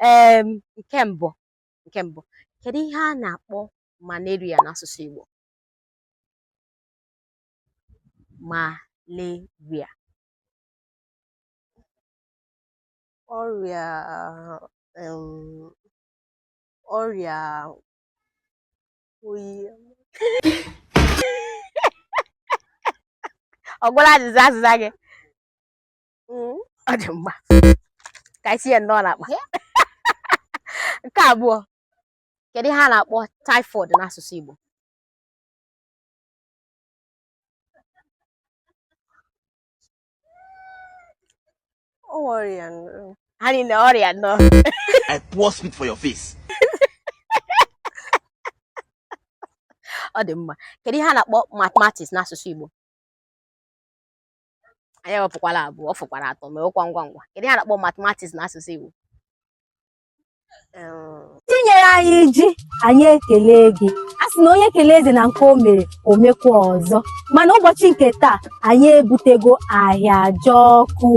um nke mbụ nke mbụ kedu ihe a na-akpọ malaria n'asụsụ Igbo malaria ọrịa um, ọrịa oyi ọ gwụla azịza azịza gị mm. ọ dị mma ka anyị tinye nnọọ n'akpa nke abụọ kedu ihe a na-akpọ typhoid n'asụsụ Igbo ọrịa ha niile ọrịa nọ I pour spit for your face ọ dị mma kedu ihe a na-akpọ mathematics n'asụsụ Igbo anyị ewepụkwala abụọ ọ fọkwara atọ mewekwa ngwa ngwa kedu ihe a na-akpọ mathematics na asụsụ Igbo i nyere anyị ji anyị ekele gị a sị na onye kele eze na nke o mere o mekwa ọzọ mana ụbọchị nke taa anyị ebutego Ahịajọkụ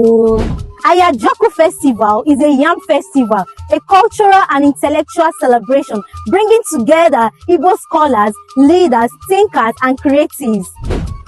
Ahịajọkụ Festival is a yam festival, a cultural and intellectual celebration bringing together Igbo scholars, leaders, thinkers, and creatives.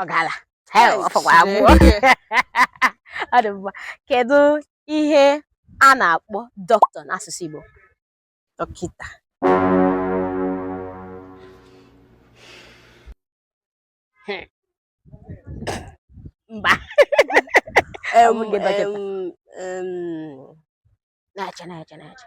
ọ gala ọ fọkwa abụọ ọ dị mma kedu ihe a na-akpọ doctor n'asụsụ Igbo dọkịta hmm. mba na-eche na-eche na-eche